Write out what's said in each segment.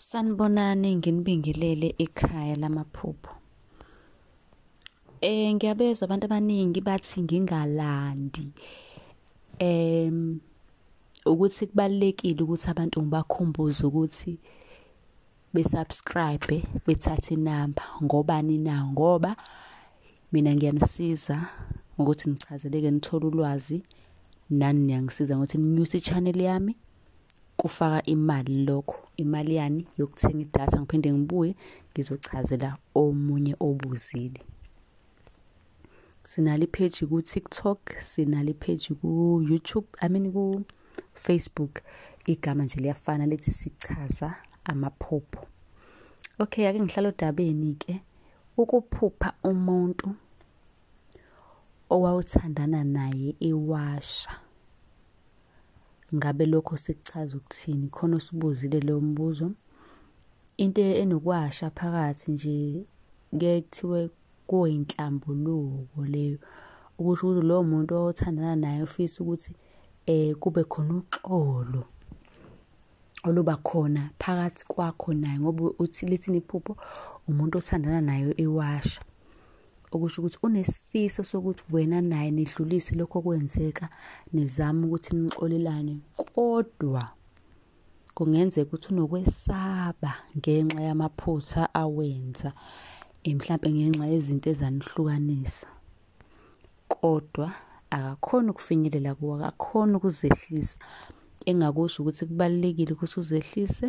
Sanibonani nginibingelele ekhaya lamaphupho. Eh ngiyabezwa abantu abaningi bathi ngingalandi. Em ukuthi kubalekile ukuthi abantu ngibakhumbuze ukuthi besubscribe bethathe inamba ngobani na ngoba mina ngiyanisiza ngokuthi nichazeleke nithole ulwazi nani niyangisiza ngokuthi ninyuse i-channel yami kufaka imali lokho imali yani yokuthenga idatha ngiphinde ngibuye ngizochazela omunye obuzile sinale page ku TikTok sinale page ku YouTube I mean ku Facebook igama nje liyafana lithi sichaza amaphupho okay ake ngihlala odabeni ke ukuphupha umuntu owawuthandana naye iwasha ngabe lokho sikuchaza ukuthini khona usibuzile leyo mbuzo into enokwasha phakathi nje ke kuthiwe kuyinhlambuluko leyo ukuthi ukuthi lowo muntu othandana naye ufisa ukuthi eh kube khona uxolo oluba khona phakathi kwakho naye ngoba uthi lithini iphupho umuntu othandana nayo iwasha okusho ukuthi unesifiso sokuthi wena naye nidlulise lokho kwenzeka nizama ukuthi nixolelane kodwa kungenzeka ukuthi unokwesaba ngenxa yamaphutha awenza eh, mhlampe ngenxa yezinto ezanihlukanisa kodwa akakhona ukufinyelela kuwo akakhona ukuzehlisa engakusho ukuthi kubalulekile ukuthi uzehlise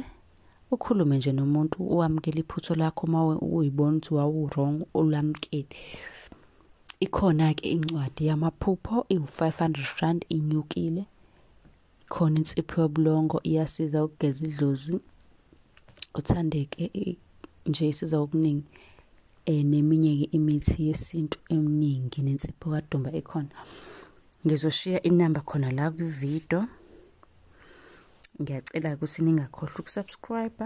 ukhulume nje nomuntu uwamukele iphutho lakho uma uyibona ukuthi wawurong ulamukele ikhona-ke incwadi yamaphupho iwu-500 rand inyukile khona insipho yobulongo iyasiza ukugeza idlozi uthandeke nje isiza okuningi um neminye-ke imithi yesintu eminingi nensipho kadumba ekhona ngizoshiya inamba khona la kwividiyo ngiyacela ukuthi ningakhohlwa ukusubscribe